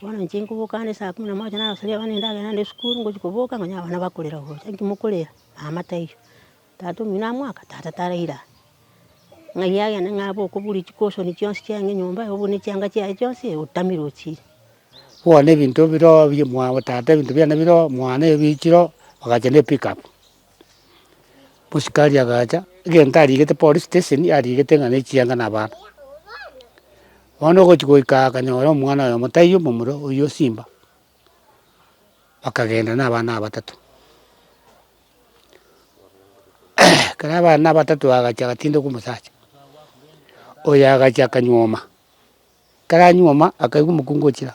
Bono inche nkoboka ande saa kumi na moja narasoria abana endagera naende esukuru, ngochia koboka nkonya abana bakorera gocha. Inki mokorera? Mama taiyo. Tata omino amoaka? Tata taraire aa. Ng'ai agende ng'a abe okoburi chikosoni chionsi chiaino enyomba iga obune chianga chiaye chionsi iga otamire ochiire. Bono ebinto bire oo bia omwabo tata ebinto biane bire oo, mwane ebiichire oo, bagacha ne epickup. Mosikari agacha, egento arigete police station arigete ng'a nechianga na abana. Bono ogochi goika aa akanyora omwana oyomo taiyo momura oywo simba, bakagenda na abana aba batato ekero abana batato bagacha agatinda kwa omosacha, oyo agacha akanyuoma. Ekero anyuoma akaigwa omokungu ochira,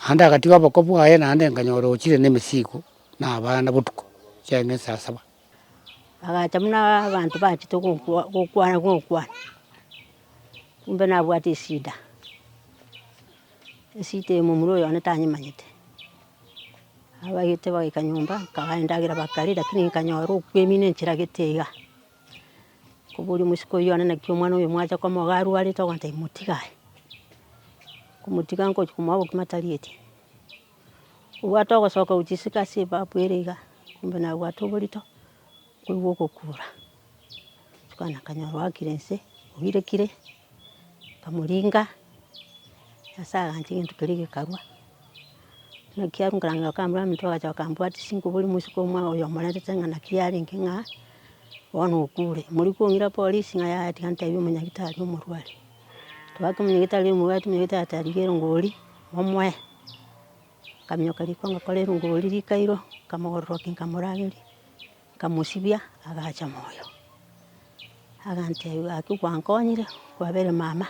naende agatiga oboko bwaye naende nkanyora ochire na emesigo na abana botuko chiaye ne saa saba. Agacha buna abanto bachete gokwa gokwana gokwana, kumbe nabwate eshida, eshida eye momura oyo one tanyemanyete. Abaegete bagaika nyomba, nkagae endagera bakarera, lakini nkanyora okwemina enchera gete iga. Koboria omosike oyio, one naki omwana oyo mwacha komoa iga arwarete, ogontebia motiga aye. Komotiga ngochia komoa obokima tarieti. Obwate ogosoka gochia isiko ase ebafu ere iga, kumbe nabwate oborito, koigwa ogokura. Rituko lina kanyora oakire inse, oirekire, nkamoringa, nyasae agancha egento keria gekarwa. Naki arenge okamorwamete bagacha bakambwatisia, nkoboria omosike oyomo omorentete ng'a naki yarenge ng'a. Bono okure, mori kong'ira polisi ng'a yaya tiga ntebie omonyagitari omorware. Twagaka omonyagitari omorware omonyagitari ata rigia erongori, momoe, nkaminyoka riko ngakora erongori rikairo, nkamogororokia nkamorageria, nkamosibia agacha moyo. Agantebia gaki gwankonyire, kwabere mama,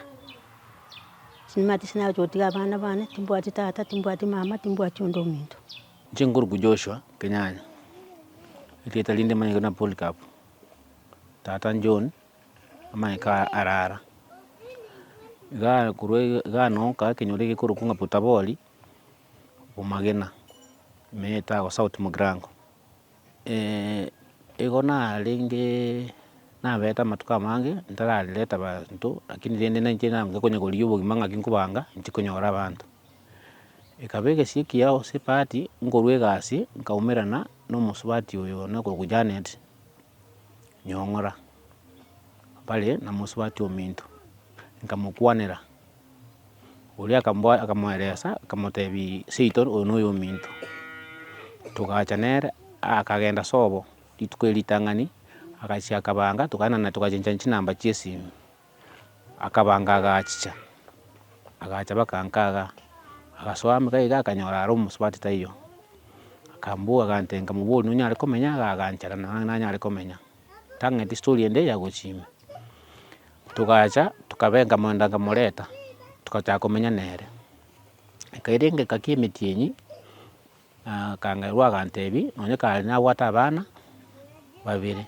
nimanyete ase nagocha gotiga abana bane, timbwati tata, timbwati mama, timbwati onde ominto. Inche nkoruku Joshua Kenyanya, erieta rinde rimanyekete buna Polycarp, tata John, amanyeke aya arara. Igaa korwa iga igaa nabo nkaa ekenyoro egekorokwa ng'a Potabori, omagena, me etago south mogirango. igo narenge nabeete amatuko amange ntararerete abanto, rakini rende nainche nanga konya korigia obogima ng'aki nkobanga, inche konyora abanto. Ekaba egesie kia Yosafati nkorwa egasi nkaumerana nomosubati oyo nakorokwa Janet Nyong'ora, bare na mosubati ominto, nkamokwanera, oria akamboa akamoeresa akamotebia seito oyo noyo ominto, togacha nere akagenda sobo rituko erio ritang'ani, agachia akabanga togaenda naye togachenchania chinamba chiesimi. Akabanga agachicha, agacha baka nkaga, agasoa amo iga iga akanyora are omosubati taiyo, akambua agantenka mobori nonyare komenya iga aganchera nang'aa nanyare komenya, tang'eti estori ende ya gochia ime. Togacha tokabe nkamwenda nkamoreta, togachaka komenya nere, ekaira engaki emetienyi. Akangairwa agantebi, nonye kare nabwate abana babere,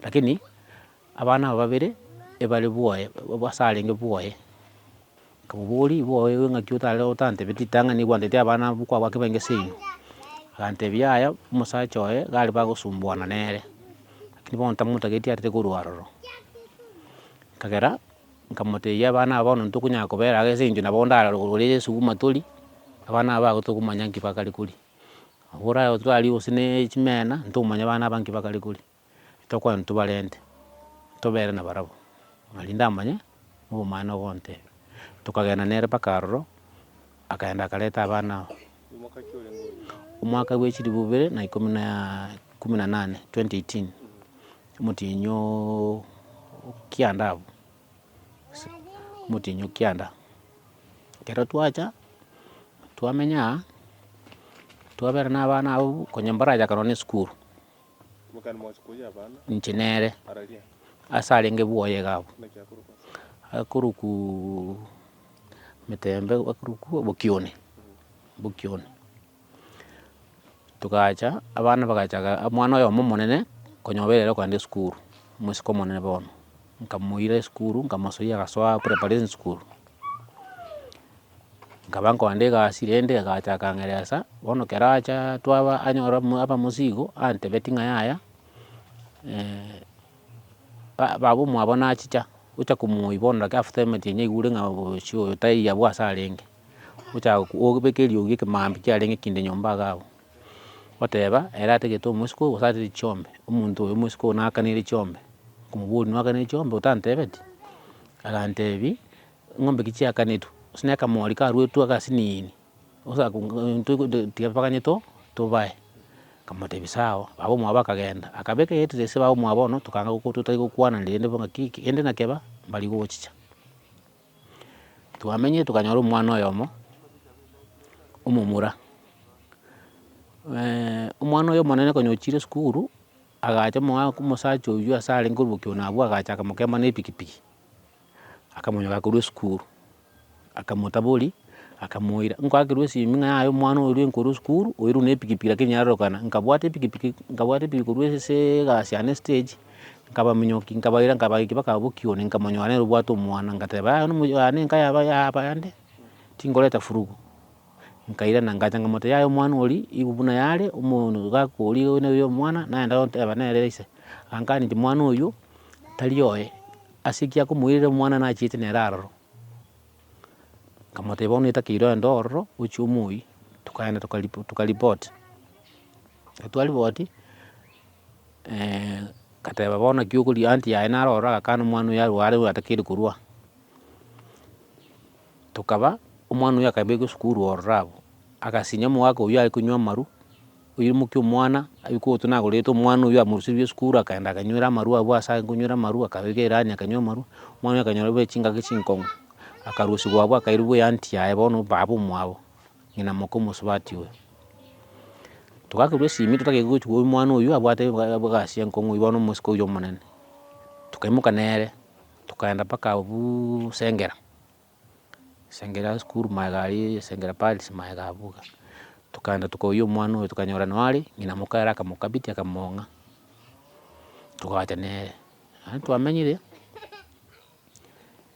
lakini abana aba babere ebare bwoye ase arenge bwoye. Nkamoboria, igo oye ng'aki otare otantebeti ritang'ani egwantetie abana abwo kwabaa kebe ense eino? Agantebi yaya, omosacha oye iga aria bagosumbuana nere, lakini bono tamotageti arete korwa aroro. Ekagera. Nkamotebia, Abana aba bono ntitokonyara kobera iga ase eng'encho nabo ndare rogoro rwaria Yeso buna tori, abana aba igo tokomanya nki bakare koria. Nabo orare gose twaria gose ne chimena, ntokomanya abana aba nki bakare koria, tokogenda tobarente, tobere nabarabwo, ng'a rinde amanye obomanera ogontebia. Tokagenda nere mpaka aroro, akaenda akareta abana aba. Omwaka bwe chilifu bibere na ikomi na ikomi na nane, 2018, omotienyi o kianda abwo, omotienyi o kianda. Ekero twacha, twamenya aa, twabera na abana abwo, konya mbarache akaba na esukuru. inche nere, ase arenge bwoye iga abwo, akorukuuuu emetembe akorukuuuu obokione, obokione, togacha abana bagacha omwana oyomo omonene, konya obeire ere kogenda esukuru, omosike omonene bono, nkamoira esukuru, nkamosoyia agasoa preparatory school. Nkaba nkogenda egasi rende egaacha akang'eresa, bono ekero acha twaba anyora amo- abamosi igo, antebetie ng'a yaya ba- baba omwabo nachicha, ocha komoiboneria gaki after emeti eria nyaigure ng'a bosio oyo taiyo abwo ase arenge, ocha go- gobeka eriogi ekemambia kiarenge kinde nyomba iga abwo, oteba ere atagete omosiko oyo gose atagete chiombe, omonto oyo omosiko oyo nakanere chiombe, okomoboria nokanere chiombe otantebeti? Agantebi Eng'ombe ki chiakanetwe, gose ne akamori karuetwe agasi ne eni, tiga tobaganye to tobae. Nkamotebia sawa, baba omwabo akagenda, akabeka egetita ase baba omwabo bono, tokanga goko totari gokwana rende bo ng'a ki kende na keba, mbari gochicha. Twamenyire tokanyora omwana oyomo, omomura, omwana oyo omonene konya ochire esukuru, agacha omoa omosacha oywo ase arenge obokia one abwo agacha akamokea mana epikipiki. Akamonyoka akorwa esukuru, akamotabori, akamoira, nkwakirwe esimi ng'a yaya omwana oyo rwenka orwe esukuru, oyo rwe na epikipiki lakini yarorokana, nkabwata epikipiki, nkabwata epikipiki korwa ase egasi yane estage, nkabaminyoki, nkabaira nkabaiki mpaka abwo bokioni, nkamonyora nere obwate omwana, ngateba yaya nomo yaya ne enka yaba yaba yande, tingoreta furugu, nkairana ngacha nkamotebia yaya omwana oria igo buna yare, omo no gakori oyo noyo omwana, nagenda goteba nere ise, agakana inche mwana oywo tari oye. Ase ki akomoirera omwana nachiete nere aroro? Nkamotebia bono etakeirwe ande ororo ochie omoyie, tokaenda tokaripoti. Ekero twaripoti, nkateba bono naki okoria anti yaye naro ororo agakana omwana oyo arwe are atakeire korwa aa. Tokaba, omwana oyo akabekwa esukuru ororo abwo, agasinya omogaka oyio are konywa amaru. oyio omoke omwana, abe kwoto nagorete omwana oyio amoruserie esukuru akaenda akanywera amarwa abwo ase ake konywera amarwa, akabeka erani akanywa amarwa, omwana oyio akanyora buna chingaki chinkong'u, akarusigwa abwo akairwa buna eanty yaye bono baba omwabo, ng'ina moka omosubati oyo. Togakorwa esimi totagete gochi koigwa omwana oyio abwate eba- eba egasi enkong'u bono omosike oyio omonene, tokaimoka nere tokaenda mpaka abuuuu sengera. Esengeri ya sukuru magega aria, esengeri ya Paris magega abwo iga. Tokaenda tokoiyia omwana oyo tokanyora noo are, ng'ina moka ere akamokabitia akamong'a, togacha nere. Naende twamenyire,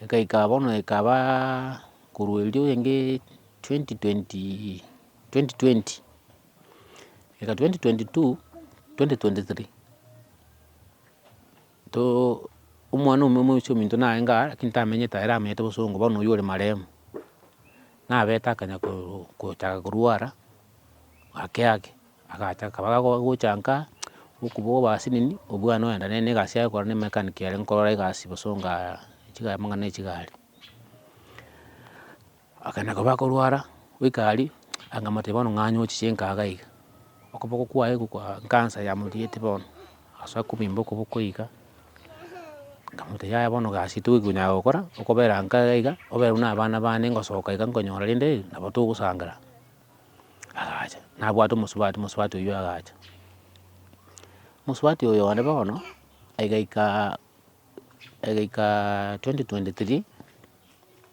egaika bono ekabaa korwa erio renge twenty twenty twenty twenty goika twenty twenty two, twenty twenty three. Too omwana omuya omoicha ominto narenge aa, lakini tamenyete ere amenyete bosongo, bono oywo ore marehemu, nabete akanya koruu gochaka korwara, ake ake, agacha akaba gago gochanka aa, okoboko obase nini, obwane ogenda ne- negasi yagokora ne mechanic ere nkorora egasi bosongo aa chiga amang'ana ya chigari. Akana koba akorwara, goika aria, akamotebia bono ng'anyo oche chinka iga iga, okoboko kwaye gokwa nkansa yamorigetie bono, ase akobimba okoboko iga, nkamotebia yaya bono egasi tokonyara gokora, okobera nka iga iga, obere buna abana bane ngosoka iga nkonyora rende nabo togosangera. Agacha, nabwate omosubati, omosubati oyio agacha. Omosubati oyo one bono, egaikaa egaikaa twenty twenty three.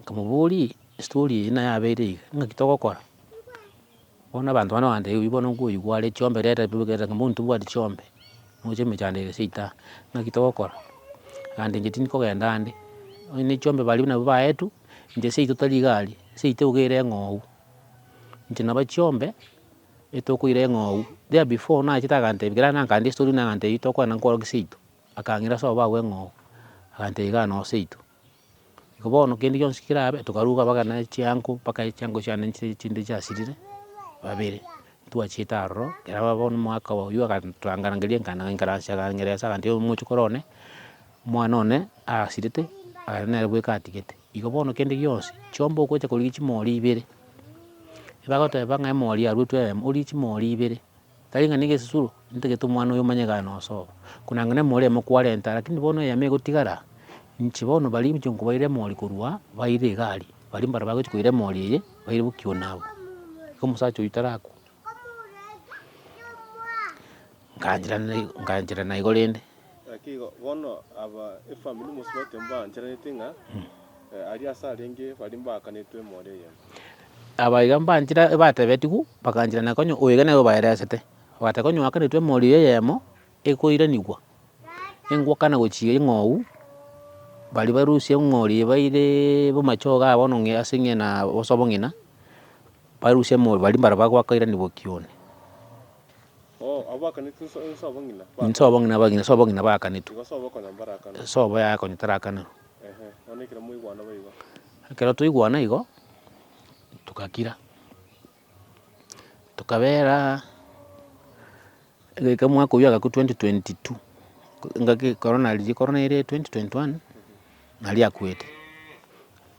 Nkamoboria, Estory eye nayabeire iga, ngaki togokora? Bono abanto bana ogoteba oyio bono nkoyigwa are chiombe reta reta ng'a mbwenu tobwati chiombe, nocha emechando ere seita, ng'aki togokora? Agambia inche tindi kogenda ande, onye ne chiombe baria nabo baetu, inche seito tari iga aria, seito iga ere eng'ou, inche naba chiombe, etokoira eng'ou, there before nachete agantebia ekero nakanire estory nagantebia tokorana nkorokio seito, akang'ira ase obao bw'eng'ou, agantebia igaa noo seito. Igo bono kende gionsi kerabe, tokaruga bagana chiango, mpaka chiango chiane nchire chinde chiasirire, babere, twachiete aroro, ekero ababo na omogaka oyio agantorangeria ekana againkaransia aganyeresia agantebia omoche kore one, omwana one asirete, aya nere bweka atigete. Igo bono kende gionsi, chiomba ogocha korigia chimori ibere, ebagoteba ng'a emori aruetwe eyemo, origie chimori ibere. Tari ng'a negesisuro, nintagete omwana oyo omanye gane osobo, konanga nemori ime kwarenta, lakini bono eyemo egotigara, inche bono baria inche nkobaira emori korwa baire egari, baria mbare bagochi koira emori eye, baire bokigwa nabo. Igo omosacha oyio tarakwa, nkaanchera nai- nkaanchera naigo rende. Naki igo bono aba efamiri yomosio bote mbaancheraneti ng'a aria ase arenge baria mbaakanetwe emori eyemo. Aba iga mbanchera batebetigwe, bagaancherana konya oyo iga nere obaeresete. Bagateba konya oakanetwe emori eyemo ekoiranigwa, engwakana gochia eng'ou, baria barusia eng'ori eye baire bomachogo aa bono ng'a ase ng'ina bosa obong'ina. Barusia emori baria mbare bagwakairania boki one. Insobo ng'ina abagina, sobo ng'ina baakanetwe. Sobo yaye konya tarakanerwa. Ekero twaigwana igo, togakira. Tokabeera egeka omwaka oyio agakwa twenty twenty two, engaki korona riria korona eire twenty twenty one, naria akwete.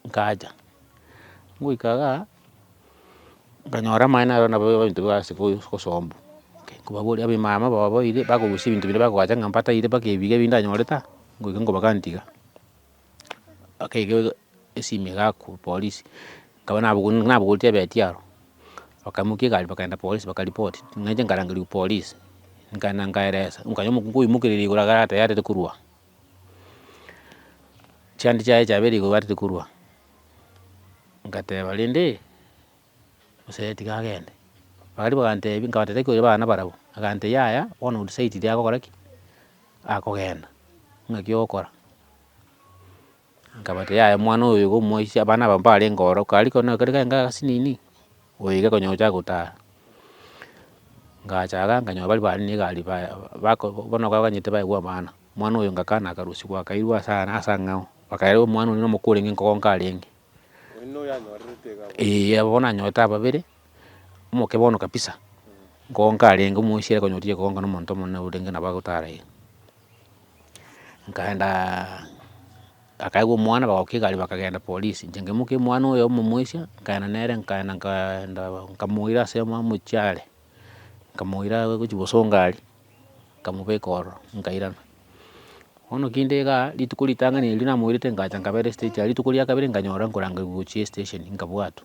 Nkacha, ngoika iga, nkanyora amaene aria nabo ebinto biabo ase obosombwa, nkobaboria abe mama bababoire bakorusia ebinto bire bakoacha ng'a mbataire mpaka ebiga ebi ndanyorete aa, ngoika nkobaganti iga, bakaiga esimi iga ku polisi, nkaba nabogoreti nabogoreti ebeti aro, bakaimokia egari bakagenda polisi bakaripoti, nainche nkarangerigwa polisi, nkaenda nkaeresa, nkanya omokungu oimokereria igoro iga arateba yarire korwa aa. Chiande chiaye chia bere igobarete korwa, ngateba rende, osae tiga agende, baria bagantebia nkabata tari koiba abana barabwo, agantebia yaya bono o decide ire agokora ki? Akogenda, ng'aki ogokora. Nkabata yaya omwana oyo iga omoisia abana aba mbarenge ororo, kari kona kari kaye ng'asi nini, oyo iga konya ogochaka gotaha. Ngachaga nkanyora bari bare ne egari ba bako bono baganyete baegwa abana, omwana oyo ngakana akarusia gwakairwe ase aa ase ang'ao, bakaira omwana oria omoko orenge nkogo nkarenge, eh aba bono nanyorete ababere, omoke bono kabisa, nkogo nkarenge omoisia ere konya otiga kogonka na omonto omonene orenge nabo agotara iga. Nkaenda bakaegwa omwana bagaoka egari bakagenda polisi, inche nkaimokia omwana oyo omomoisia, nkaenda nere nkaenda nkaenda nkamoira ase amo omochie are, nkamoira gochia gosonga aria, nkamobeka ororo nkairana. Bono kende iga, rituko ritang'ani erio namoirete ngacha nkabera estage aria, rituko ria kabere nkanyora nkorangerwa gochia estesheni nkabwatwa.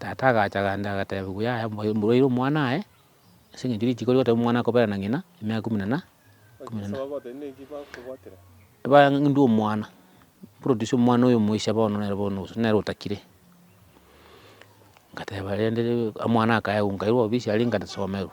Tata agacha agancha agateba gu yaya moyo mborwaire omwana aye, ase eng'encho rituko rigoteba omwana akobera na ng'ina emiaka ikomi na na ikomi na na. Ebara ndue omwana, produce omwana oyo omoise bono nere bono gose nere otakire. Ngateba rende omwana akaegwa nkairwa obisi aria nkasomerwa.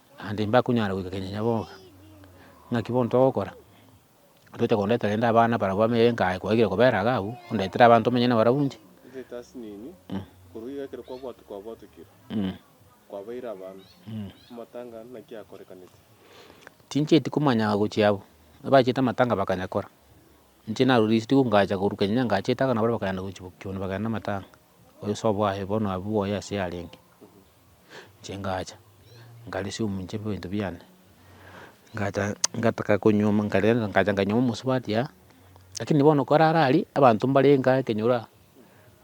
Naende mbakonyara goika kenyanya boka, ng'aki bono togokora, toche kondetera rende abana barabwo amo egenka aye kwagire kobera iga abwo, ondetere abanto omenye nabarabwo inche. Inche Tasinini, korwa iga ekero kwabwatwa kwabwatukire, kwabeire abanto, amatanga naki akorekaneti? Tinchieti komanya gochia abwo, abachiete amatanga bakanya kora, inche narurisitiwe ngacha korwa kenyanya ngachiete iga nabo bakagenda gochia boki bono bakagenda na amatanga. Oyosoa bwaye bono abe bwoye ase yarenge, inche ngacha nkaresia omonche ebinto biane, ngacha ngataka konywa amo nkarenta ngacha nkanywa amo omosubati aa, lakini bono nkarara aria, abanto mbare inga ekenyoro aa,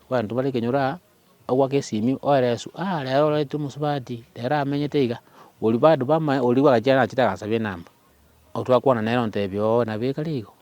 abanto mbare ekenyoro aa, agoaka esimi oera esu, aa rero ororete omosubati, rero amenyete iga, oria bado bamae oria bwagachia nachete akansabia enamba, otwakwana nere ontebia oo nabo ekare igo,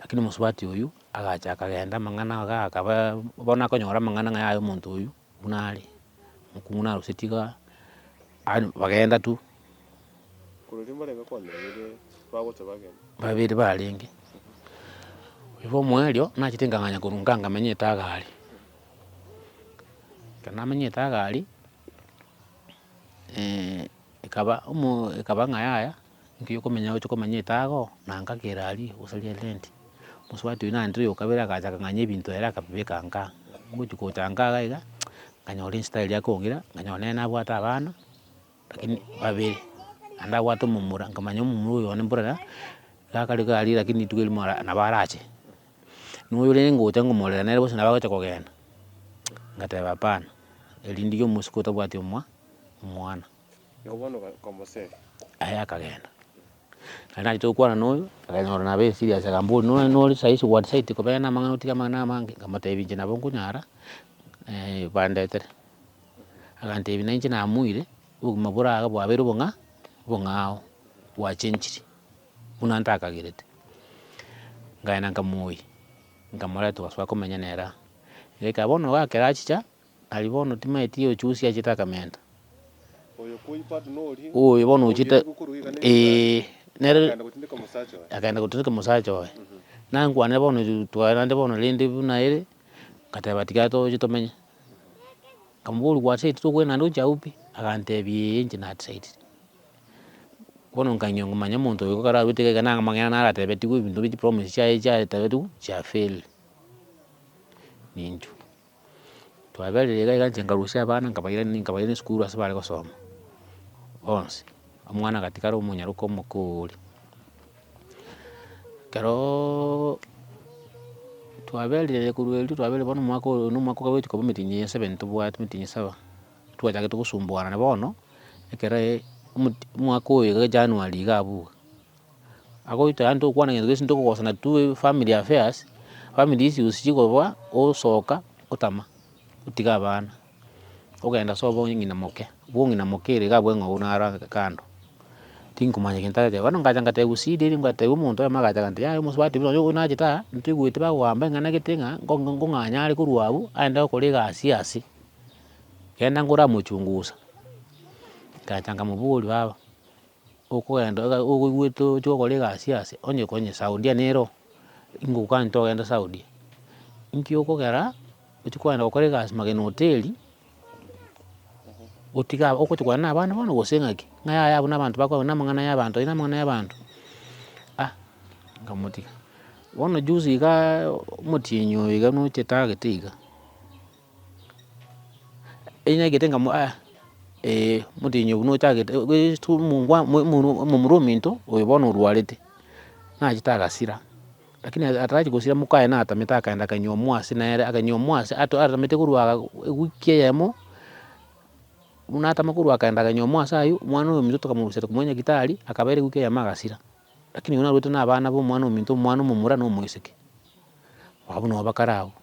Lakini omosubati oyio agacha akagenda amang'ana iga akaba bono akonyora amang'ana ng'a yaya omonto oyio buna are, mokong'u naroseti iga, yaani bagenda tu, Korende mbarenge kwamenyire bagocha bagenda. babere barenge. Oyo bwa omoerio nachete nkang'anya korwa nka nkamenya etaga aria, ekero namenya etaga aria, ekaba omo ekaba ng'a yaya. Nki okomenya ogocha komanya etago, na ngaki ere aria, gose ria rent? Mosubati oyio naende oyo kabere agacha akang'anya ebinto ere akabibeka nkaa. Ngochi gocha nkaa iga iga, nkanyora inse tari yakong'ira, nkanyora nere nabwate abana, lakini babere, naende abwate omomura, nkamanya omomura oyo one mborera, gakare iga aria lakini rituko erimo ara nabo arache. Na oyo rende ngocha ngomorera nere bosi nabo agocha kogenda, ngateba hapana, erinde omosuku otabwati omwa omwana. Nabo bono bakomoseri. Aye akagenda. Naende nachete gokwana noyo, akanyora nabo eserious, akambori nonye nore saisi what side kobera namang'ana otige amang'ana amange, nkamotebia inche nabo nkonyara bandetere. Agantebia nainche namoire, obogima bore iga bwabeire obong'a obong'ao, bwachenchiri, buna ntakagerete. Nkagenda nkamoyia, nkamoreta togachaka komenya nere aa. Iga ekaba bono iga ekero achicha. Aria bono timaeti gochusia chitakamenta. Oyo bono ochita ee nere akaenda gotindeka omosacha oye. Nankwanire bono twaerande bono rende buna ere, ngateba tiga toche tomenye. Nkamoboria gwachire titokogenda naende oche agwo pi? Agantebia ee inche natisaidire. Bono nkagenda ngomanya omonto oyo ekero arwete iga iga nang'o amang'ana naro atebetigwe ebinto bie chipromise chiaye chiaye chiabetigwe chia fail. Nincho. Twaberire iga iga inche nkarusia abana nkabaira nkabaira esukuru ase bare gosoma, bonsi, omwana agatigara omonyaroka omokoori. Keroooo twaberire korwa erio twaberire bono omwaka oyo na omwaka ogochika korwa emitinyi eye esebeni tobwate emitinyi saba, twachagete gosumbuana na bono, ekero omoti omwaka oyo iga january iga abwo iga. agoita yaani tokwana gento gionsi tokogosana tu family affairs, family issues chikorwa osoka otama, otiga abana, ogenda sobo onye ng'ina moke, bwo ng'ina moke ere iga abwo eng'ou naro ageke kando, tinkomanya gento areteba, bono ngacha ngateba gusida erio ngatebia omonto oyoma agacha agantebi yaya omonto batebire nonya oyio nachete aa, ntoigwete bagoamba eng'ana gete ng'a ngo ngong'anya are korwa abwo aende gokora egasi ya ase, genda ngore amochungusa, ngacha nkamoboria baba. okogenda iga ogoigwete oche gokora egasi ase, onye konye saudia nero, ingokwanete ogende saudia, inki okogera, ochi kogenda gokora egasi magena hoteli, gotiga aba ogocha kogenda na abana bono gose ng'aki, ng'a yaya abwo na abanto bakorana na amang'ana ya abanto aye na amang'ana ya abanto, ah nkamotiga. Bono juzi igaaa omotienyi oyo iga noche tagete iga. Enyagete ng'a aa ee omotenyi oyo buna ochagete goetw omongwa omomura ominto oyo bono orwarete, nachete agasira, lakini atarachi gosira mokaye natamete akaenda akanywa omwasi nere akanywa omwasi ato atamete korwa ewiki eyemo, buna atama korwa akaenda akanywa omwasi aywo, omwana oyo ominto tokamorusia tokomoa nyagitari, akaba ere ewiki eyemo agasira. Lakini oyio narwete na abana ba omwana ominto, omwana omomura na omoiseke. Abwo nabo bakare abwo.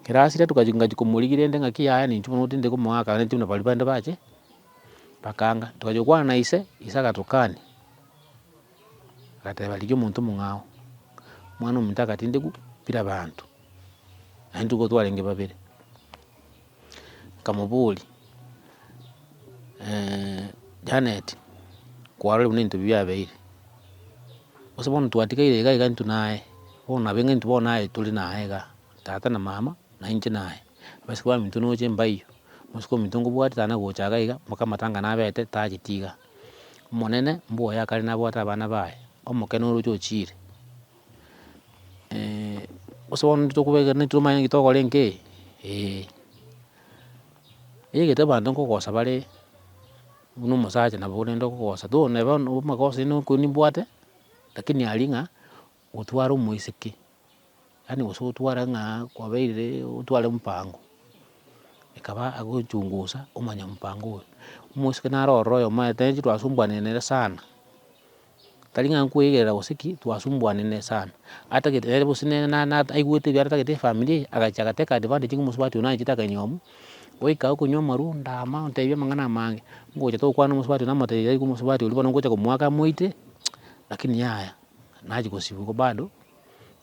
Ekero asira toka ngachia komorigia rende ng'aki yaya na inche bono otindire komoa akagenda buna baria bande bache, bakanga. Togachia gokwana na ise, ise agatokani, agateba rigia omonto omong'ao, omwana ominto agatindekwa bire abanto, naende nigo twarenge babere. Nkamoboria, Janet, kwarorire buna ebinto ebi biabeire, gose bono twatigeire iga iga intwe naye, bono nabo ng'a intwe bono naye tore naye iga, tata na mama, na inche naye, abaisiko baminto noche mbaiyo, omosike ominto ngobwate tana gocha iga iga, mpaka amatanga nabete tagete iga. Omonene mboyo akare nabwate abana baye, omokene oroche ochiire. gose bono nitokobeka nitwe omanye naki tokore inki, eeh. Egete abanto nkogosa bare, buna omosacha nabo orende okogosa, though nebe bono amagoso aino okoigwa nimbwate, lakini aria ng'a, otware omoiseke, yaani gose otware ng'a kwabeire otware omopango, ekaba agochungusa omanye omopango oyo. Omoiseke naro ororo oyomo aye, tari intwe twasumbuanire nere sana. Tari ng'a nkoegerera gose ki, twasumbuanire sana, atagete nere bosi nere na- na aigwete ebiara atagete efamiri eye, agachia agateka advantage ng'a omosubati one anchete akanywa omu, goika iga okonywa amarwa, ndama, ontebia amang'ana amange, ngocha togokwana na omosubati one namotebi tari omosubati oria bono ngocha komoaka amoite, lakini yaya, nachi gosibigwa bado.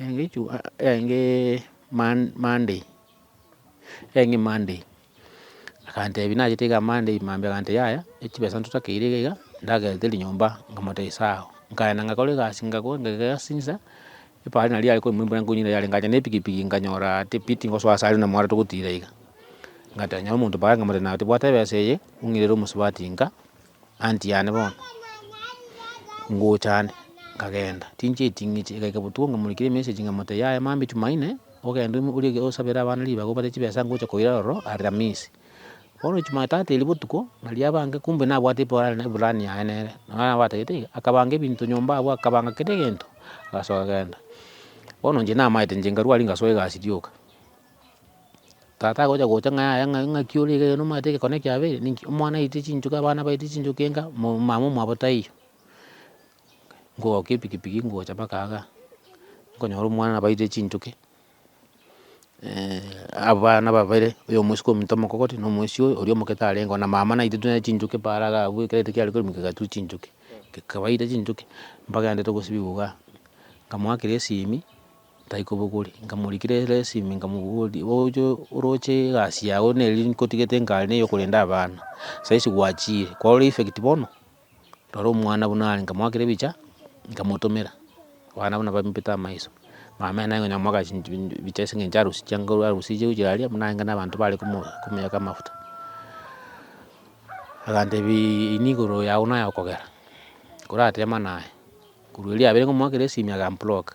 Enge chuma enge monday enge monday agantebia nachete iga monday mambia agantebia iga yaya echibesa ntotakeire iga iga ndagerete rinyomba nkamotebia sawa, nkaenda ngakora egasi ngakora ngaiga egasi chinsa, epara naria yare koimwa embura nkonywa nere ngacha na epikipiki nkanyora tipiti ngosoa ase aria na omwaro togotira iga, ngatonya omonto paara nkamotebia naye bwata ebesa eye ong'irere omosubati nka. Aunt yane bono, ngocha ande, nkagenda, tinchieti ng'iche, igaika botuko nkamorikera emessage nkamotebia yaya mambia jumaine, ogende orie osabere abana ribaga obare chibesa ngocha koira ororo alhamisi. Bono jumatatu eria botuko, naria abange kumbe nabwate eplani eplani yaye nere, nonya nabo atagete iga, akabanga ebinto nyomba abwo, akabanga kera egento, agasoa agenda. Bono inche namaete inche nkarwa aria ngasoa egasi rioka. Tata agocha gocha ng'a yaya ng'a ng'aki ore iga iga nomanyete egekone kiabeire, ninki? Omwana aetie chinchoki abana baetie chinchoki enga, mo- mama omwabo taiyo. Ngogoka epikipiki ngocha mpaka iga, nkonyora omwana nabo aetie chinchoki, abana babere, oyo omosike omito omokogoti, na omoisi oyo oria omokete arengeo, na mama naetie tuna chinchoki paara iga abwo ekero reta kiare koremwa kegatu chinchoki, kekabaeire chinchoki, mpaka egento togosibiwa igaa, nkamoakera esimi. tai kobogori, nkamorikera eresimi nkamoboria, oche oroche egasi yago neri nkotigete nkare ne yokorenda abana, saisi gwachire, kwarora effect bono, rora omwana buna are nkamoakera ebicha, nkamotomera, abana buna bambete amaiso, mama ere naye konya komoaka chinchi ebicha ase eng'encho harusi chianga korwa harusi chire gochia aria, buna aenge na abanto bare komo komoyaka amafuta, agantebiaaa ini igoro yago naye okogera, koratemana aye, korwa erio yabere ngomoakera esimi agambloka.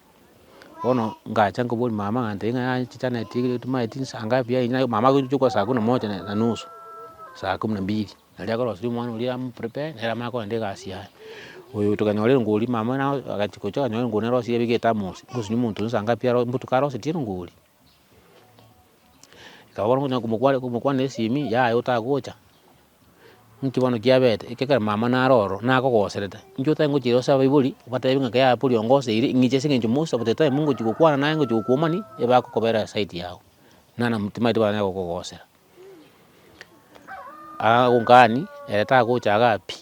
Bono ngacha nkaboria mama ng'a ntebi ng'a yaya chichana eti etumanyeti eti nsaa ngapi yaye nya mama agochia gokora saa kumi na moja na nusu, saa kumi na mbili, naria akorosia omwana oria amu prepare nere amanye kogenda egasi yaye. Oyo tokanyora erongori mama agachia gocha akanyora erongori narosirie abeke ethermos, ngosunie omonto oria nsa ngapi aro mbotuko arosetie erongori. Ekaba bono ngonya komokwa komokwanera esimi, yaya otagocha, nki bono kiabete, ekero mama naro ororo, nakogoserete, nki otari gochira gose abaibori, obatebie ng'a yaya pori ongoseire, ing'icha ase eng'encho Musa gose time ngochi gokwana naye ngochi gokuomani, ebakokobera side yago, nana timaeti banyare gokogosera. Agongani ere tagochaga pi,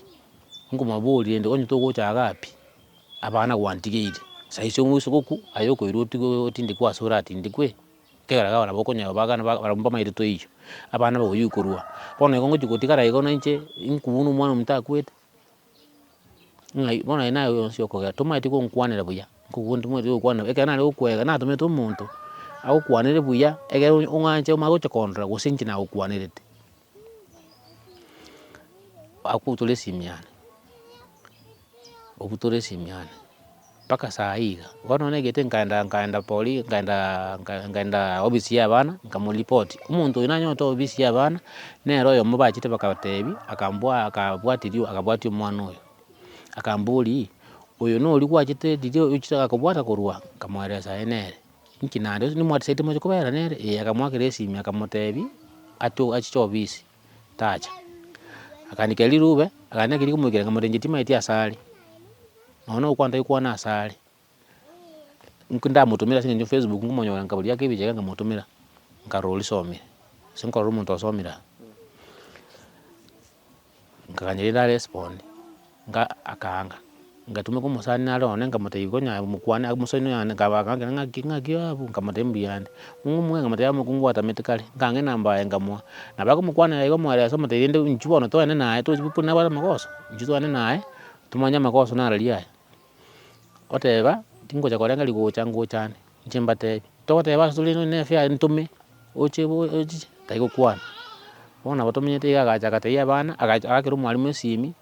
nkomoboria rende onye togochaga pi, abana gwantigeire, saisi onwe ase ogokwa, aye okoirwa otigwe otindekwe aase oratindekwe, ekiagera iga abana bokonye abagana barabwo mbamairoto eywo, abana bagoyia okorua, bono igo ngochi gotigara igo nainche, inwe buna omwana omonto akwete. Ng'a i bono aye naye oyo onsi okogera, tomaeti gonkwanera buya, nkobuoni tomaeti gokwana buya, ekero nare gokwega natomete omonto, agokwanere buya, ekero onya ong'anche omanye gocha kondora gose inche nagokwanerete. Agwo tore esimi yane, obutore esimi yane. mpaka saa hii iga. Bono nagete nkaenda nkaenda poli nkaendaa nka- nkaendaa ofisi ya abana, nkamoripoti, omonto oyo nanyete ofisi ya abana, nere oyomo bachete bakatebi, akambwaa akabwati riu akabwati omwana oyo, akambori, oyo noria gwachete riria ochiche akakobwata korwa? Nkamoeresa aye nere, inki naende, onye nimwatisaete moche kobera nere? Ee, akamoakera esimi akamotebi, ato achiche ofisi. tacha. Akaandekia rirube, akaandekia riria rikomoikera ng'a morendi timaeti ase are, nonye na ogokwana tagokwana ase are. Inki ndamotomera ase eng'encho facebook nkomonyora nkabu riake ebicha iga nkamotomera, nkarora orisomire, gose nkarora omonto osomire aa, nkagancha rende aresponde. Nga akaanga, ngatumeka omosani nare one, nkamotebia konya mokwane aa omosani oyo ande, nkaba akankera ng'aki ng'aki abu, nkamotebia mbuya ande, ng'o omwene nkamotebia amo kongwatamete kare, nkange enamba yaye nkamoa, nabo akomokwana iga omoereso omotebia rende inchuo bono toende naye tochi buna nabwate amagoso, inchuo toende naye, tomanye amagoso naro aria aya, oteba, tingocha korenga rigocha ngocha ande, inche mbatebie, togoteba ase tore nonya na efare ntome, oche bo ochiche, tari gokwana, bono nabo tomenyete iga agacha agatebia abana, agacha agakera omwalimu esimi.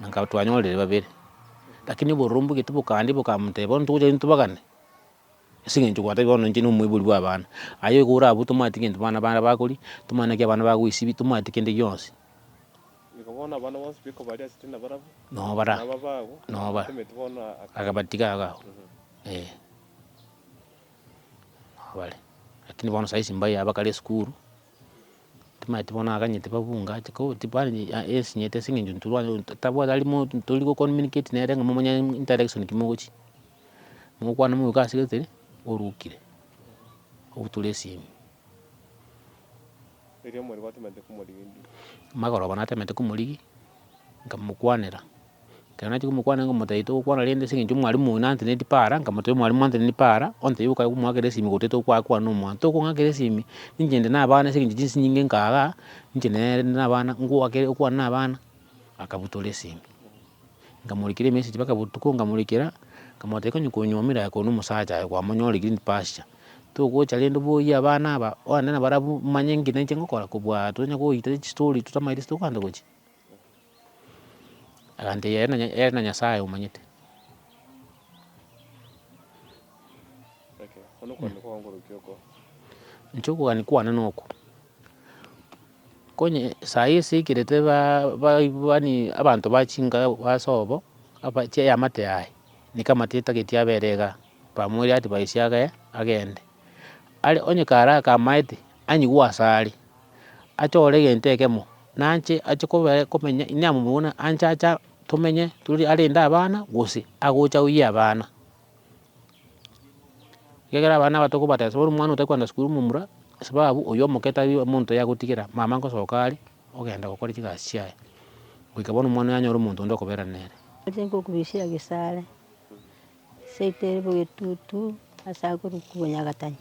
na nkaba twanyorire babere, lakini oborumbu gete bokaandia bokamoteba bono togocha nintobagane, ase eng'encho gwatabi bono inche na omoibori bw'abana, aye igo orabue tomanyeti gento abana bare bakoria, tomanyeti naki abana bagoisibi, tomanyeti kende gionsi. Igo bono abana bonsi biko baria ase ritena barabwo, Noo bara, na ababago, noo bara, abatometi bono aka- akabatiga iga abwo, eh. Nabo bare, lakini bono saizi mbayaaba kare esukuru. Timaeti bono aganyete babunga ache ko tibaari a- esinyete ase eng'encho ntorware tabwati ari mo- tori go communicate nere ng'a momanye interaction ki mogochia, mogokwana moika ase gete ri, orukire, ogotura esimi. Erio omorwoti omanyete komorigia endigiri. Magoroba natemete komorigia. nkamokwanera, ekero nachia komokwanera nkamotebia togokwana rende ase eng'encho mwarimu oino antenenetie para, nkamotebia mwarimu antenenetie para, ontebie okae komwakera esimi gose tokoa kwane omwando, tokong'akera esimi, ninche inde na abana ase eng'encho chinsinyi inche nka igaa, ninche nere inde na abana, ngoakere okwane na abana, akabutora esimi, nkamorekera emessage mpaka botuko nkamorekera, nkamotebia konya konywa omera aye korwa na omosacha aye kwamonyoreire in pasture. Togocha rende boyie abana aba, oende na barabwo, manye ng'ina inche ngokora kobua tonya goita chistory totamaeti ase tokogenda gochia. Agantebi ere na- ere na Nyasaye omanyete. Inche okogania kwane noko, konye saii ase ekerete ba- ba- yaani abanto ba chinka ase obo, aba- chiamate yaye, nigo amate etageti abere igaa. Bamweirie ati, Baisia abe, agende. Aria onye kare akamaete, anyigwe asare, achore egento ekemo, nanche ache kobe- komenya inee amo buna anche acha tomenye tore arende abana, gose agocha oyie abana. Ekiagera abana aba tokobatesa, bono omwana otari kogenda skuru momura, sababu oyio omoke tari omonto yagotigera, mama ngosoka are, ogenda gokora chigasi chiaye, goika bono omwana oyo anyore omonto onde okoberana nere. Oche nkokubisia gisare. Esaito ere bogetutu ase agoruku bonyagatani,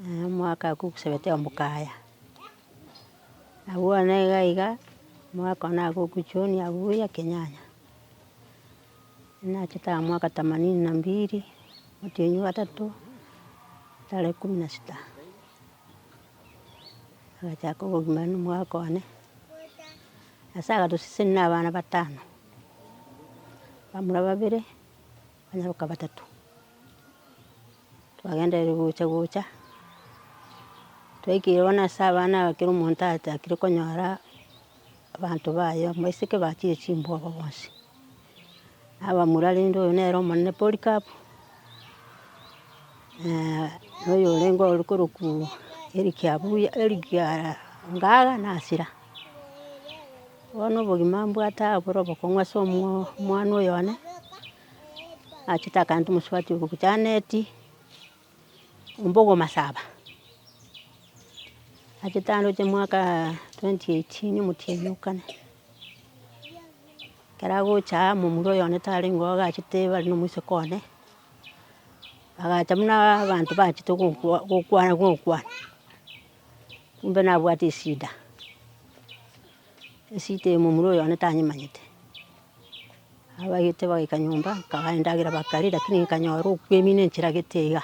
naye omwaka oko gosegete omokaya, abwo one iga iga omwaka one nigo ogochoonia buya ekenyanya, nachete aya mwaka themanini na mbili, omotienyi o gatato, tarehe kumi na sita. Agachaka obogima na omwaka one, nyasaye agatosesenia na abana batano, abamura babere, abanyaroka batato, twagenderire gocha gocha, twaikire bono ase abana aba kera omonto achakire konyora. Abanto baye abaiseke bachire chimbogo bonsi, na abamura rende oyo nere omonene Polikapu, na oyo orenge ore korokwa Erikia Abuya, Erikia Ngaga na Asira. Bono obogima mbwate aa bore obokong'u ase omwa omwana oyone, nachete akanyete omosubati ogocha Aneti. Ombogo Masaba, achete ande gochia mwaka twenty eighteen omotienyi o kane, ekero agocha aa momura oyo one tarenge oo agachete bare na omoiseke one, agacha buna abanto bachete gokwa gokwana gokwana, kumbe nabwate esida. Esita eye momura oyo one tanyemanyete, abagete bagaika nyomba nkagaya endagera bakaria, rakini nkanyora okwemina enchera gete iga,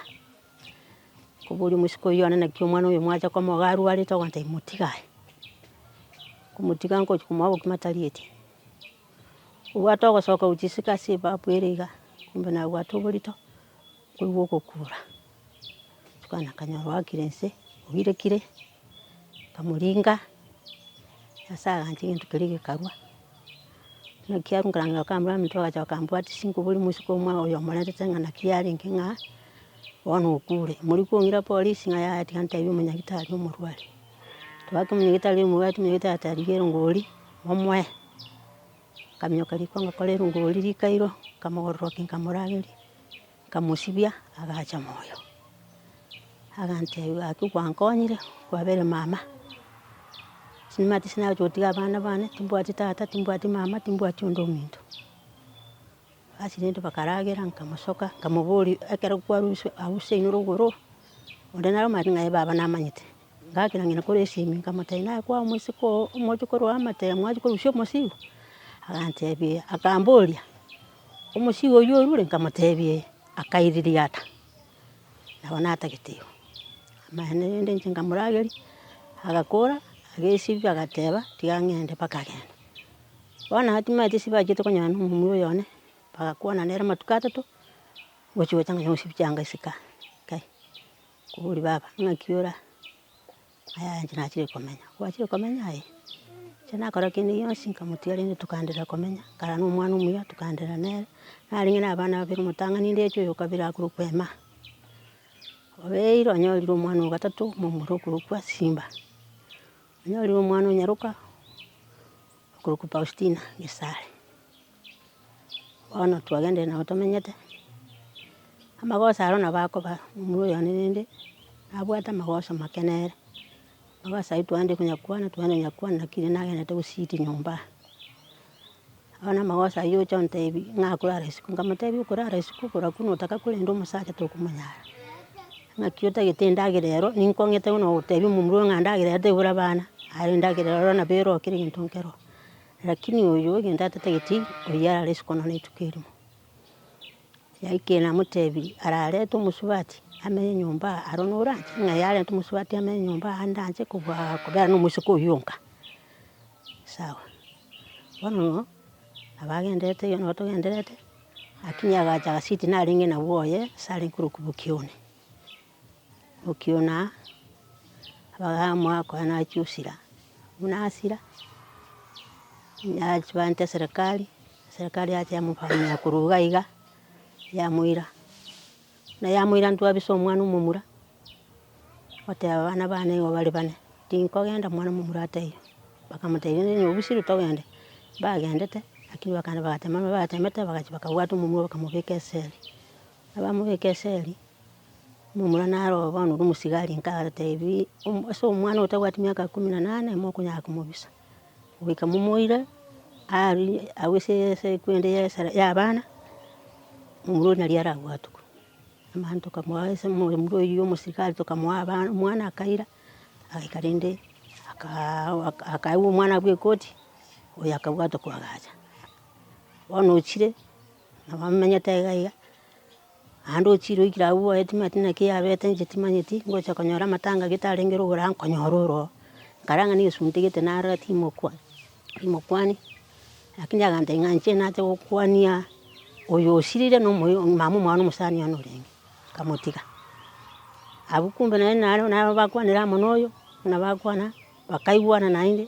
nkoboria omosike oyio one naki omwana oyo mwacha komoga arwarete, okonta motiga aye, nkomotiga nkochia komoa obokima tarieti, obwate ogosoka gochia isiko ase ebafu ere iga, kumbe nabwate oborito, nkoigwa ogokura. Bono akanyora oakire inse, obirekire, akamoringa, nyasae agacha egento keria gekarwa. Buna ekiagera nkarangeire gokama buna ominto ogacha okambwatia chingubo ore moisiko omwa oyo omorentete ng'a naki yarenge ng'a bono okure. Mori kong'ira polisi ng'a yaya tiga ntebie omonyagitari omorware. Twagaka omonyagitari omobwati, omonyagitari agateba rigia erongori momoe. Akaminyoka riko ngakora erongori rikairo, nkamogororokia, nkamorageria. Nkamosibia, agacha moyo. Agantebia, gaki gwankonyire, kwabere mama. Nimanyete ase nagochia gotiga abana bane, timbwati tata, timbwati mama, timbwati onde ominto. Ase rende bakaragera, nkamosoka, nkamoboria, ekero kwarosiwa ause inwe rogoro, onde naro omanyete ng'a aye baba namanyete. Ngakira ng'ina kore esimi, nkamotebia, naye kwao moiseke oo, omochie korwa amatemo, mwachia korusia omosigo? Agantebia, akamboria. Omosio oyio orure nkamotebia, akairiria ata? Nabo natagete igo. Amaene rende inche nkamorageria, agakora, agesibia agateba, tiga ng'ende mpaka agende. Bono atimanyete ase bachete konyara na omomura oyone, bagakwana nere amatuko atato, ochi gocha nonya gosibia chianga isiko aa, kai, kobori baba ng'aki ora aa. Aya inche nachire komenya, gwachire komenya aye, inche nakora kende gionsi nkamotira rende tokaendelea komenya, kare na omwana omuya tokaendelea nere, narenge na abana babere omotang'ani ndeche oyo okabere akorokwa Emma. Obeire onyorire omwana owa gatato momura okorokwa Simba, onyorire omwana o nyaroka okorokwa Faustina Gesare. bono twagenderire nabo tomenyete, amagoso ayio nabo akoba momura oyone rende, nabwate amagoso make nere. Amagoso ayio twaenda konya kwana, twaenda konya kwana naki rende nagenderete gositi nyomba. Bono na amagoso ayio oche ontebi ng'a akorara isiko, nkamotebia okorara isiko okoraku notaka korenda omosacha tokomonyara. Naki otagete endagera ero, ninkong'ete buna ogotebia momura oyo ng'a endagera ero tebura abana, aye endagera ero nabo ero kera egento nkero. Lakini oyio egento atatageti oyio arare isiko nonya rituko erimo. Yaikire namotebirie ararete omosubati amenye nyomba aa, aro nore anche ng'a yarenta omosubati amenye nyomba aa ande anche kobua kobera nomosike oyio onka. Sawa, bono nabo agenderete oyio nabo togenderete, lakini agacha agasiti narenge nabwo oye ase arenge korokwa bokione. Okiona abagamoa koa nachia osira, buna asira, nachi banta eserekari, eserekari yachia yamofanyia korwa iga iga, yamoira, buna yamoira intwe abisa omwana omomura, oteba abana bane nigo bare bane, tinkogenda omwana momura ataire, bakamotebia onde nigo obusire togende, mbagendete, lakini bakagenda bagatema, batemete, bagachia bakabwata omomura bakamobeka esere. Abamo be Geseri, momura naro oo bono ore omosigari, nkatebi, ase omwana otabwati miaka ikomi na nane mokonyara komobisa. Goika momoire arie agwo ase eseku ende ya esara ya abana, momura oria nari arabwatwe. Mani tokamoa ase momura oyio omosigari tokamoa abana omwana akaira, agaika rende akaaa akaewa omwana bwa ekoti, oyo akabwatwa koagacha. Bono ochire. Nabo amenyete aiga aiga, naende ochire oikire agwo oboe timanyeti naki yabete inche timanyeti, ngocha konyora amatanga getarenge ore ogoro nkonyora ore oo. Nkarara ng'a nigo suntegete narora timokwa, timokwani, lakini agantebia ng'a inche nache gokwania oyo osirire na omoyo mama omwana omosani one orenge, nkamotiga. Abwo kumbe naende naro naro bakwanire amo na oyo, buna bakwana, bakaigwana naende.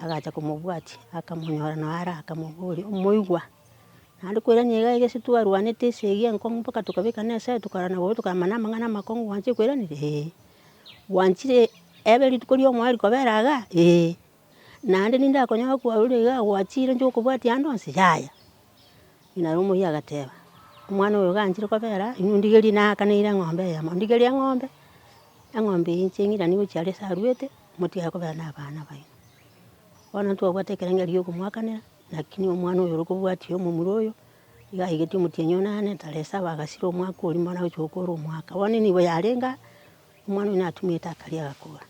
agacha komobwatia, akamonyora nao are akamoboria, omoigwa, naende kwerania iga iga ase twarwanete ase eyio enkong'u mpaka tokabekana esaa tokarwana igoro tokamanya na amang'ana amakong'u gwancha kweranera, ee. Gwanchire ebe rituko ria omoyo rikobera iga? Ee. Naende ninde akonyora kwarure iga gwachire inche okobwatia ande onsi? Yaya. Naro omoyia agateba, omwana oyo iga anchire kobera, inwe ndigerie, naakaneire eng'ombe eyemo, ndigerie eng'ombe, eng'ombe eye inche ng'iranie gochia are ase arwete. Motiga kobera nabana baino. Bono ntwabwate ekerengo gi'okomwakanera, naki nigo omwana oyo orokobwatia omomura oyo, iga aigeti omotienyi one ane tara esaba agasira omwaka oria bono agochia gokora omwaka. Bono enibo yarenge aa, omwana oyo natumete akaria agakora.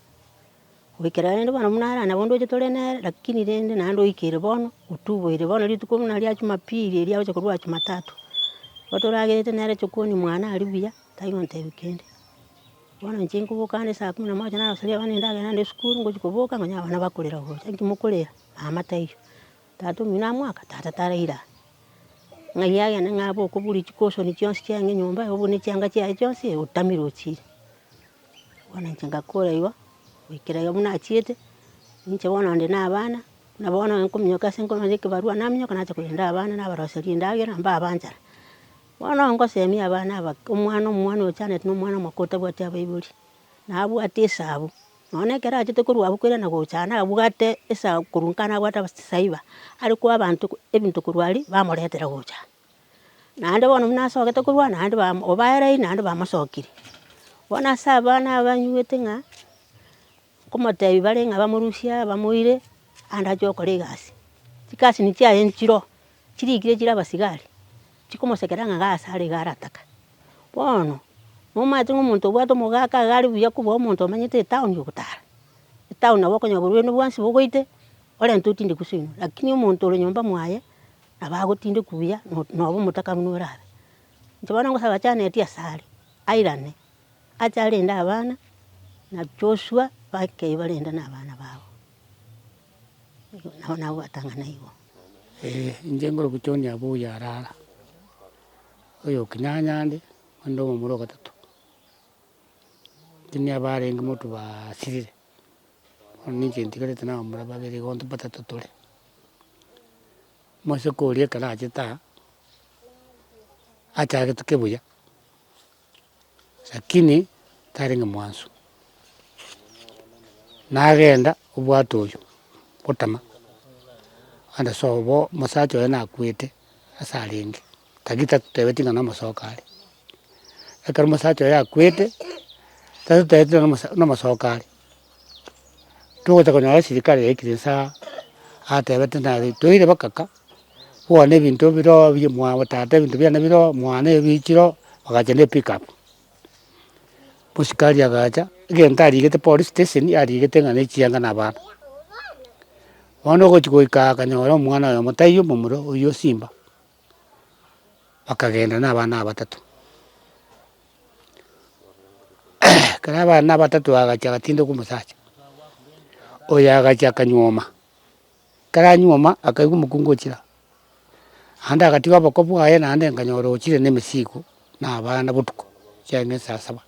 Goikera rende bono buna are nabondo oche tore nere, lakini rende naende oikire bono, otuboire bono rituko buna ria jumapili eria agocha korwa jumatatu. Igo toragerete nere chokoni mwane aria buya, tari gontebia kende. Bono inche nkoboka ande esaa kumi na moja naroseria abana endagera ande esukuru, ngochia koboka nkonya abana bakorera gocha. Inki mokorera? Mama taiyo. Tata omino amoaka? Tata taraire aa. Ng'ai agende ng'a abe okobura chicushion chionsi chiaye nyomba, obure ne chianga chiaye chionsi, otamire ochire. Bono inche ngakora igo, goikera iga buna achiete, ninche bono onde na abana, buna bono nkominyoka ase nkorwa ase ekebarua, naminyoka nacha korenda abana nabaroseria endagera, mbabe nchara. Bono ngosemia abana aba, omwana omwana ochanete na omwana omoko otabwati abaibori, na abwate esabu, nonya na ekero achete korwa abwo korende na gochana abwate esabu korwa nkana abwate abasasaiba, are koa abanto ebinto korwa aria bamoretera gochana. Naende bono buna asogete korwa aa naende bamo obaereire naende bamosokire. Bono ase abana abanywete ng'a. Nkomoteebia bare ng'a bamorusie aa bamoire ande ache gokora egasi. Chigasini chiaye nchiro, chirikire chire abasigari, chikomosekera ng'a gasi are iga arataka. Bono nomanyete ng'a omonto obwate omogaka iga are buya kobua omonto omanyete etown ogotara. Etown nabo okonyora oborwaire bwonsi bogoite, orente otinde kuso ino, lakini omonto ore nyomba mwaye, nabo agotinde kubuya, nobo omotaka buna orabe. Inche bono ngosaba chaneti asare, airane. Acharende abana na Joshua bakei barende nabana babo, nabo nagwatang'ana igo. Ee, inche ngoro gochoonia abwo oyarara, oyokinyanyande, onde omomura ogatato. Intwe nigo abarenge motobaa sirire, bono ninche ntigarete na abamura babere igo nto batato tore. Moseke oria ekero achete aa, achagetwe kebuya, Lakini tarenge mwanso, nagenda obwate oyio gotama, onde sobo bo mosacha oye nakwete ase arenge, tagi tatotebeti ng'a nomosoka are. Ekero mosacha oye akwete, tatotebeti ng'a nomosoka are. Togocha konyora esirikari yaikire inse aa, atebete naretoire bakaka, kwane ebinto bire oo bi mwabo tata ebinto biane bire oo, mwane ebichire oo, bagacha ne epick up. Mosikari agacha, egento arigete polisi steseni, arigete ng'a ne echianga na abana. Bono ogochi goika aa akanyora omwana oyomo taiyo momura, oyio simba. bakagenda nabana abatato, ekero abana abatato bagachia bagatindoka omosacha, oyo agachia akanyuoma, ekero anyuoma akaigwa omokungu ochira, naende agatiga oboko bwaye naende nkanyora ochire na emesigo na abana botuko, chiaye na esasaba.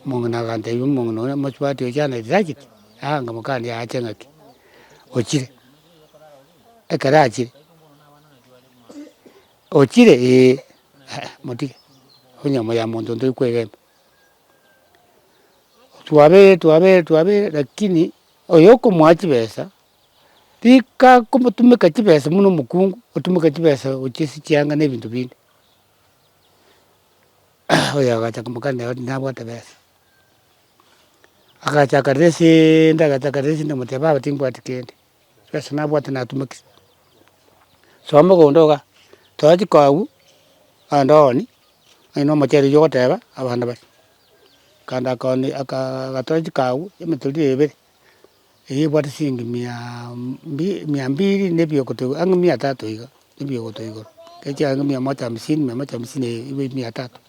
Omong'ina agantebia omong'ina oria mosubati ochanete tacheti, aanga mokania aache ng'aki, ochire? Ekero achire, ochire? Eeh, ah motige, onye omoyo ya monto ntori kwegena. Twabere twabere twabere lakini oyo okomoa chibesa, rika akomotumeka chibesa buna omokungu, otumeka chibesa gochia ase chianga na ebinto binde. oyo agacha komokanera oti nabwate besa, agacha akarera eseeende agacha akarera eseende omotebe baba timbwati kende, besa nabwate natumekire. Soa mogondo iga, toa chikagu, ande ooni, onye na omochere oywo ogoteba abana baria. Kanda akaoni akaa agatoa chikagu emetori ebere, Eye ebwate chiingi mia mia mbiri na ebiogoto igoro, ang'e mia tatu iga, na ebiogoto igoro. Ekero chiaye ang'e mia moja hamsini, mia moja hamsini na iga mia tatu.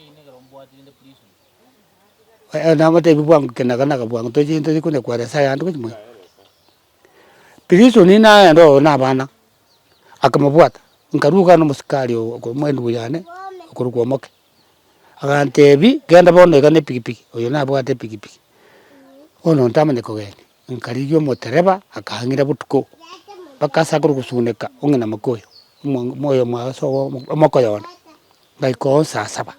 Aya nabatebi bwango kinaganaga bwango tochie tochie konyakwara nyasaye ande gochia mono. Prison naende oo na abana, akamobwata, nkaruga nomosikari oo okomoendi buyane, okorokwa omoke. Agantebi, Genda bono iga nepikipiki, oyo nabwate epikipiki, bono ntamanya kogenda, nkarigia omotereba akang'ira botuko mpaka ase akorwa gosuguneka ong'ina moka oyo, moyo mwaye ase omokoyo one, ngaika oo saa saba,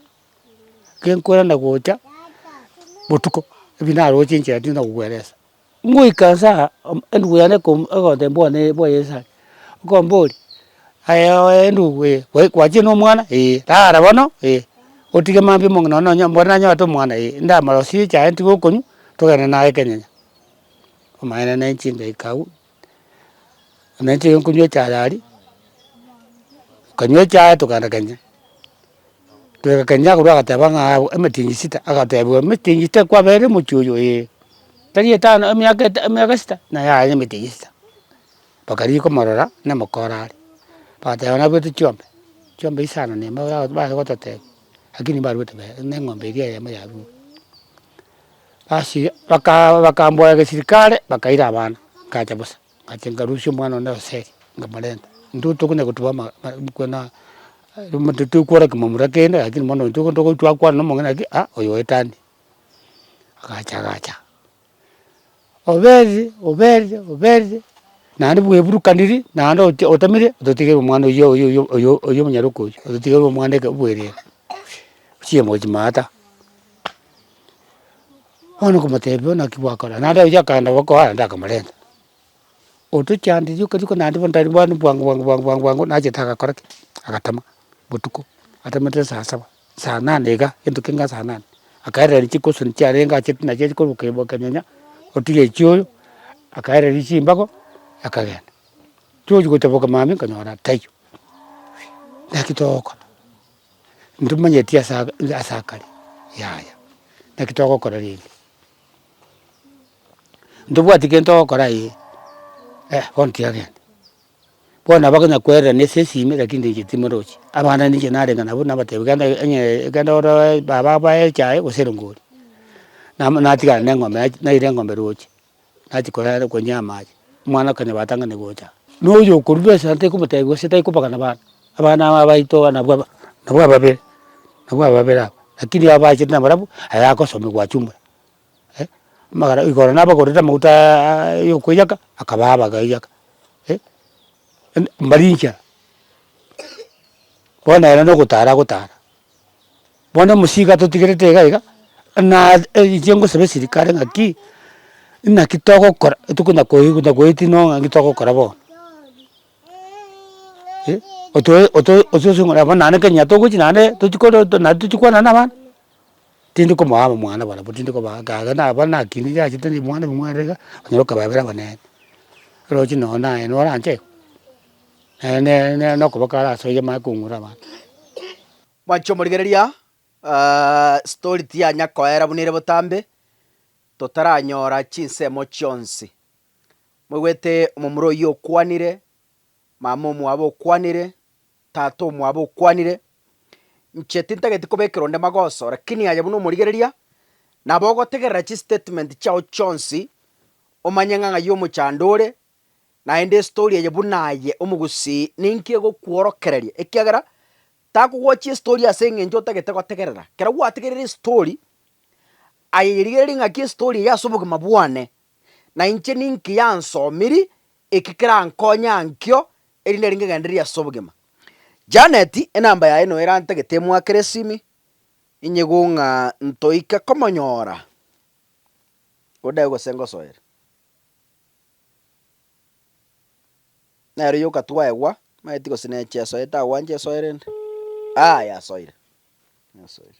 genkwerana gocha botuko, ebi naroche inche naende tindi na kogweresa. Ngoika nse aa, endugu yane ekoum egotemba one bwaye nse aa, okombori, aye oye endugu ee, gwa gwachire na omwana? Eeh, rara bono eeh, otige mambia omong'ina nonya onye mbwate nanyabate omwana eeh, inde amarosie chaye ntige okonywa, togende naye ekenyenya. Omaene ne chindaika abwo Nainche ekero nkonywaa echae aria, nkanywa echae tokaenda kenya, toika kenya agwo agateba ng'a aa emitingi sita, agatebiwa emitingi sita kwaberire omochie oyo eeh, tari etano emiaka eta emiaka sita, naye aye emitingi sita. Bakarigia komorora na amako arare, bagateba nabwate chiombe, chiombe isano na emo yabo baye gototebia, lakini mbaruete bebe, ne eng'ombe eria eyemo yarurwa. Ase baka bakamboya gesilikari bakaira abana, ngacha bosa, ngacha ngarusia omwana one Hoseri nkamorenta, intwe tokonya koteba ama kwena totonya kora kimomura kende lakini bono intwe nigo togochia gokwana na omong'ina ng'aki aa oyo oetania, agacha agacha. Oberi, oberi, oberi, naende bweburukaniri naende ote otamire ototigerwe omwana oyio oyio oyio oyio oyio omonyaroke oyio, ototigerwe omwana eke obwerere, chiemwe echi maata. Bono okomotebi bono naki gwakora, naende oyio akaenda gokoa naende akamorenta. Otochande rioka rioka naende bono tari bwanu bwango bwango bwango bwango bwango nachete agakora ki? agatama botuko, atamete saa saba. Saa nane iga egento keng'ana saa nane, akaerera rituko gose nigo chiarenge achete naende chiaria korwa kanyanya otiga echioyo, akaereria chimbago akagenda. Tochi gocha boka mambia nkanyora taiyo. Naki togokora? Ntomanyeti ase ase akare yaya, naki togokora rende? Ntobwati kere togokora ee, bono tiga genda. Bono abagonya kwerera nese esime lakini ndeche timorochi. Abana ninche narenga nabo nabatebia genda eeh genda oroe baba abae echae gose erongori. Nama natigana ne eng'ombe nachi naira eng'ombe roche, nachi koyara konywa amache, omwana okonywa batang'ani gocha. Na oyo okorua ase ase tekomotebia gose tekobagana abana, abana aba abaito abana abwo aba nabwo ababere, nabwo ababere aba, lakini abachete nabarabwo aye agosomigwa achumore. eh, amagara igoro nabagorete amauta aaaa yokoiyaka, akabaa abagaiyaka eh, en- mbari inchera bono ere nogotara agotara. Bono omosigo atotigerete iga iga, na inche ngosaba esirikare ng'aki, naki togokora etuko nakoi nakoeti no ng'aki togokora bono eh, otoe otoe otoe ase ng'a nabo naende kenya togochi naende tochi koro naende tochi kwana na abana. tindi komoa abamwana barabwo tindi kobaa ake aye na abana naki nigo achete ribwana ribwere iga, onyora okababera abanene. Oroche nonye naye nore anche iga, naye nere nere nokoboka are ase oyio amanye kong'urera abanto. Mwanche omorigereria, story tiyanya koera buna ere botambe, totaranyora chinsemo chionsi. Moigwete omomura oyio okwanire, mama omwabo okwanire. Tata omwabo okwanire, Inche tintageti kobekerwa onde magoso, lakini aye buna omorigereria, nabo ogotegerera chistatement chiao chionsi, omanye ng'a ng'ai omochando ore, naende estori eye buna aye omogusii ninki egokworokereria, ekiagera takogochia estori ase eng'encho otagete gotegerera. Kero gwategerire estori, aye yerigererie ng'aki estori eye ase obogima bwane, na inche ninki yansomiri Eki kerankonye ankio, erinde ningegendererie ase obogima. Janet, enamba yaye noyo erantagete emwakere esimi, inyigou ng'a ntoike komonyora ode gose ngosoere. Nero yoka twaegwa, maeti gose neche esoe tagwancha esoe rende, ah yasoire, yasoire.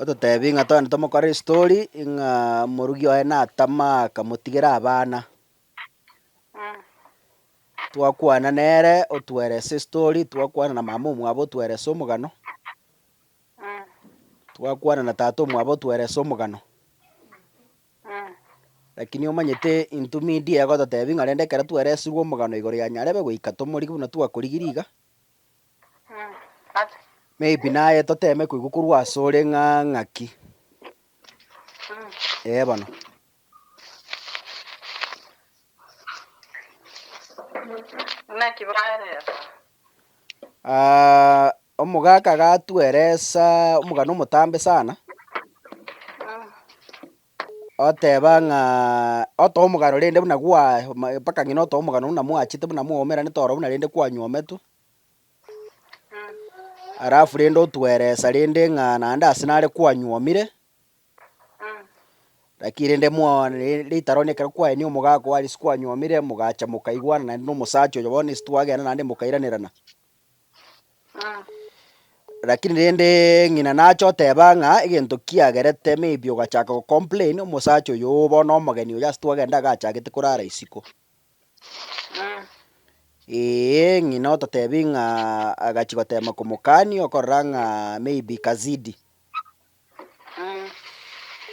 Ototebi ng'a togende tomokore estori ng'a morugi oye natama akamotigera abana. Twakwana nere otwerese estori twakwana na mama omwabo otwerese omogano, twakwana na tata omwabo otwerese omogano. Lakini omanyete intwe media egototebi ng'a rende ekero tweresiwu omogano igoro ya Nyarebe goika tomorigi buna twakorigirie iga. Maybe naye toteme koigwa korwa asore ng'a ng'aki. Ee eh, bono. Naki baeresa? Ah, omogaka gatweresa omogana omotambe sana. oteba ng'a otoomogano rende buna gwa mpaka ng'ina otoomogano buna mwachete buna mwaumeranete ororo buna rende kwanyometwe, alafu rende otweresa rende ng'a naende ase nare kwanyomire, lakini rende mwa re- rita roonye ekero kwaenia omogaka oo ase kwanyomire mogacha mokaigwana naende na omosacha oyo bono ase twagenda naende mokairanera. Rakini rende ng'ina nache oteba ng'a egento kiagerete maybe ogachaka go complain omosacha oyo bono omogeni oyo ase twagenda iga achagete korara isiko. Eeh ng'ina ototebi ng'a agachi gotema komokani okorora ng'a maybe kazidi,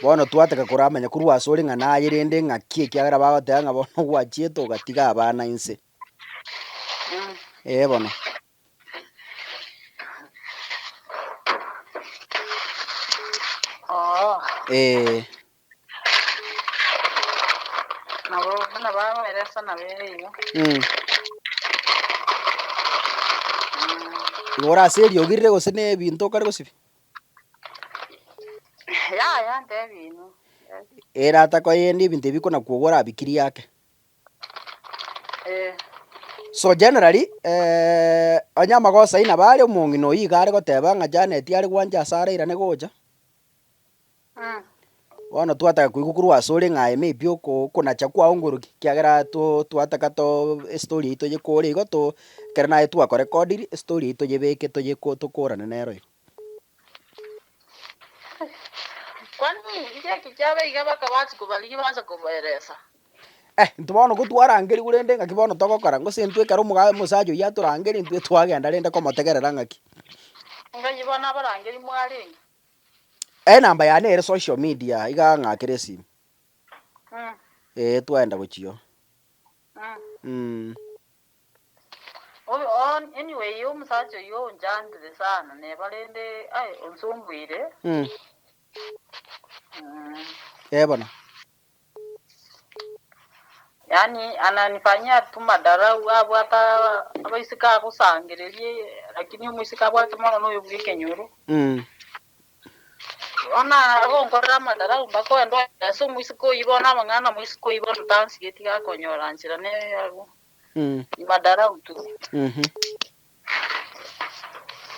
bono twataka koramanya korwa asore ng'a naye rende ng'aki ekiagera bagoteba ng'a bono gwachiete ogatiga abana inse. Ee bono. Oo, Ee, nabo buna baberesa nabere igo. mm. Igo ore ase eriogi rire gose nebinto okare gosibia? Yaya, ntebi inwe. Ere atakoyenda ebinto ebi kona kwogwa orabikirie ake. So generally onye amagoso ayio nabo are omong'ina oyio iga are goteba ng'a Janet are gwancha ase are irane gocha, bono twataka koigwa korwa asore ng'a aye maybe oko okonacha kwao ngoroki ekiagera to twataka too estori eyio toyekore igo to ekero naye twakorekodiri estori eyio toyebeke toyeko tokorane nere oyo. Kwani ng'aki kiaba iga bakabati kobarigia baanche kobaeresa? Eh, intwe bono ko twarangeria korende ng'aki bono togokora, gose intwe ekero omoga omosacha oyio atorangeria intwe twagenda rende komotegerera ng'aki. Ngaki bono abarangeri mwarenge? Enamba yane ere social media iga ng'akere esimi. Mm, Ee, twaenda gochia oo. mm. Mm. Oon anyway omusacha oyio onchantire sana neba rende aye onsumbuire Mm. mm. Eh bono. yani ananifanyia tu madarau abwata abaiseke agosangererie lakini omoiseke abwate mono noyo bwa ekenyoro Mm. bono agonkorera amadarau mbakoe ndware ase omoiseke oyio bono amang'ana na omoiseke oyio bono tansigeti gakonyora nchera neye abwo Madarau tu.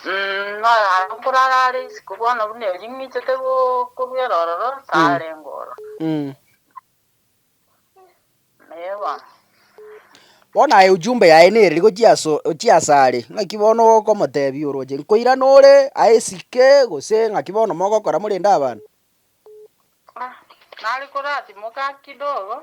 Noyo aro nkorara are isiko bono buna erio ng'ichete gokorwera ororo, tarengwa ororo. Ee bono. Bono aye ujumbe yaye nereri gochia ase gochia ase are, ng'aki bono okomotebia oroche nkoirana ore aye esike gose ng'aki bono mogokora morende abana? Nare koratimoka kidogo.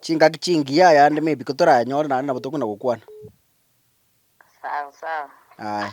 Chingaki chingiya yande mebiko toranyore naende nabo tokona gokwana. Sawa sawa. Aye.